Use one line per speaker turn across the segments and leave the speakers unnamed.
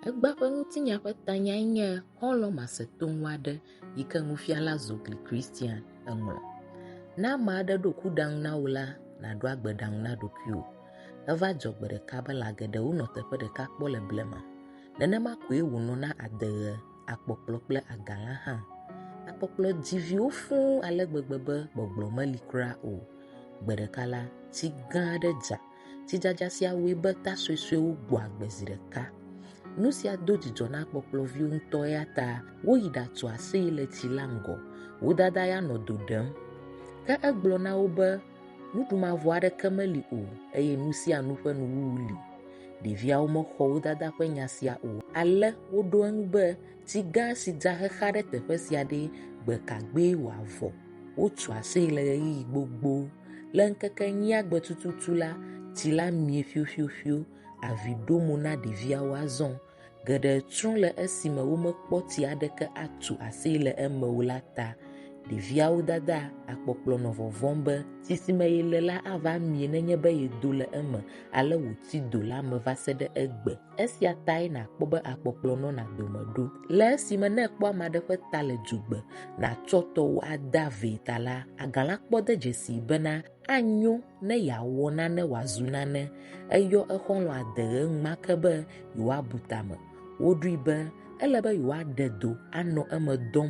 Egbea ƒe ŋutinya ƒe tanyae nye Xɔlɔ̃ Masetoŋu Aɖe yi ke Nufiala Zogli Christian ŋlɔ. Ne ame aɖe ɖo kuɖaŋu na wò la, nàɖo agbeɖaŋu na ɖokuiwò. Eva dzɔ gbe ɖeka be lã geɖewo nɔ teƒe ɖeka kpɔ le blema. Nenema koe wònɔ na adeɣe, akpɔkplɔ kple agalã hã. Akpɔkplɔ dzi viwo fũu ale gbegbe be gbɔgblɔ meli kura o. Gbe ɖeka la, tsi gã aɖe dza. Tsidzadza sia wɔe be ta suesuewo gbɔ agbe zi ɖeka. Nu sia do dzidzɔ na kpɔkplɔviwo ŋutɔ eya ta woyi ɖatu aseye le tsi la ŋgɔ. Wo dada ya nɔ do ɖem. Ke egblɔ na wo be, Nuɖu mavɔ aɖeke meli o eye nu sia nu ƒe nuwuwu li. Ɖeviawo mexɔ wo dada ƒe nya sia o. Ale woɖo eŋu be, Tsi gã si dza xexa ɖe teƒe sia ɖee, gbe ka gbee wòavɔ? Wotso aseye le ɣeyiɣi gbogbo. Le ŋkeke enyia gbe tututu la, tsi la mie ƒioƒioƒio. Avi ɖo mo na ɖeviawo azɔ. Geɖe tsrɔ̃ le esime womekpɔ tsi aɖeke atso aseye le eme o la ta. Ɖeviawo dada akpɔkplɔ nɔ vɔvɔ̃m be tsi si me yele la ava mie nenye be yedo le eme ale wòti do la me va se ɖe egbe. Esia tae nàkpɔ be akpɔkplɔ nɔna dome ɖo. Le esime ne èkpɔ ame aɖe ƒe ta le dzugbe, nàtsɔ tɔwò ada vɛ ta la, agalã kpɔ de dzesii bena anyo ne yeawɔ nane wòazu nane. Eyɔ exɔlɔ̃ ade ɣe enumake be yewoabu tame. Woɖoe be ele be yewoaɖe do anɔ eme dɔm.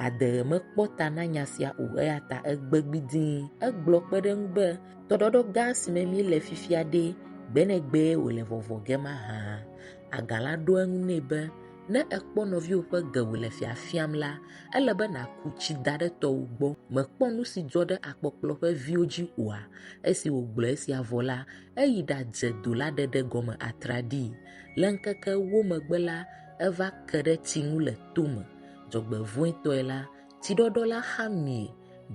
Ade ɣe mekpɔ ta na nya sia o eya ta egbe gbidii. Egblɔ kpe ɖe eŋu be, Tɔɖɔɖɔ gã si me míle fifia ɖe, gbe ne gbe wòle vɔvɔ ge ma hã, aga la ɖo eŋu nɛ be, ne èkpɔ nɔviwò ƒe ge wòle fiafiam la, ele be nàku tsi da ɖe tɔwò gbɔ. Mèkpɔ nu si dzɔ ɖe akpɔkplɔ ƒe viwo dzi oa? Esi wògblɔ esia vɔ la, eyi ɖadze do la ɖeɖe gɔme atraɖii. Le ŋkeke ewo megbe la, eva ke ɖe tsi ŋu le tome. Dzɔgbevɔ̃etɔe la, Tsiɖɔɖɔ la xa mi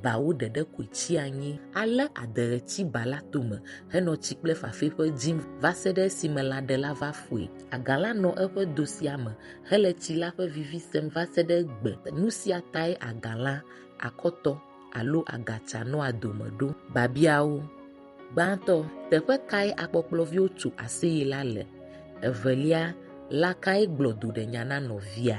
bawo ɖeɖe koe tsi anyi. Ale adeɣe tsi ba la tome henɔ tsi kple fafɛƒe dzim va se ɖe esime lãɖe la va fue. Agã la nɔ eƒe do sia me hele tsi la ƒe vivi sem va se ɖe egbe. Nu sia tae agã la, akɔtɔ, alo agatsa nɔa dome ɖo. Biabiawo, Gbãtɔ, teƒe kae akpɔkplɔviwo tso aseye la le? Evelia, lã kae gblɔ duɖenya na nɔvia?